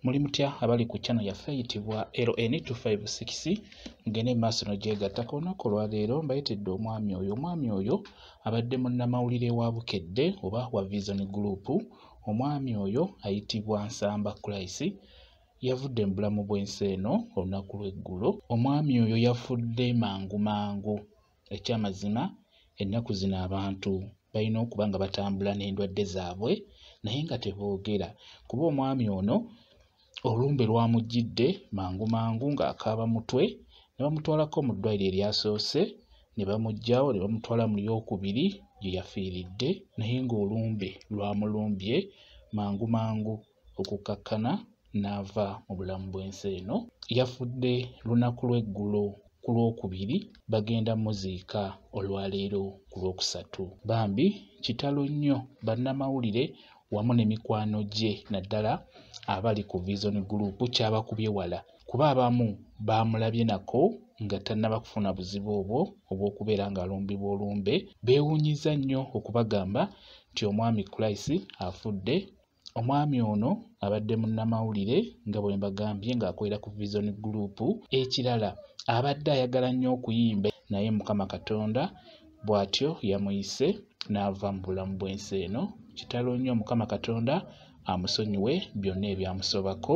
muli mutya abali ku chano yaffe eyitibwa ln256 mugende maaso nogyegattako olunaku olwaleero mbayitidde omwami oyo omwami oyo abadde munnamawulire wa bukedde oba wa vision group omwami oyo ayitibwa nsamba kulaisi yavudde mu bulamu bw'ensi eno olunaku lw'eggulo omwami oyo yafudde mangu mangu Ekyamazima ennaku zino abantu balina okuba nga batambula n'endwadde zaabwe naye nga teboogera kuba omwami ono olumbe lwamujjidde mangu mangu ng'akaaba mutwe ne bamutwalako mu ddwaliro eryasoose ne bamuggyawo ne bamutwala mu lyokubiri gye yafiiridde naye ng'olumbe lwamulumbye mangu mangu okukkakkana n'ava mu bulamu bw'ensi eno yafudde lunaku lw'eggulo ku lwokubiri bagenda muziika olwaleero ku lwokusatu bambi kitalo nnyo bannamawulire wamu ne mikwano gye naddala abali ku vision group kyabakubye wala kuba abamu baamulabye nako nga tannaba kufuna buzibu obwo obw'okubeera ng'alumbibwa olumbe beewuunyizza nnyo okubagamba nti omwami Christ afudde Omwami ono abadde munnamawulire nga bwe mbagambye ng'akolera ku Vision Group. Ekirala abadde ayagala nnyo okuyimba naye Mukama Katonda bw'atyo yamuyise n'ava mu bulamu bw'ensi eno. Kitalo nnyo Mukama Katonda amusonyiwe byonna ebyamusobako.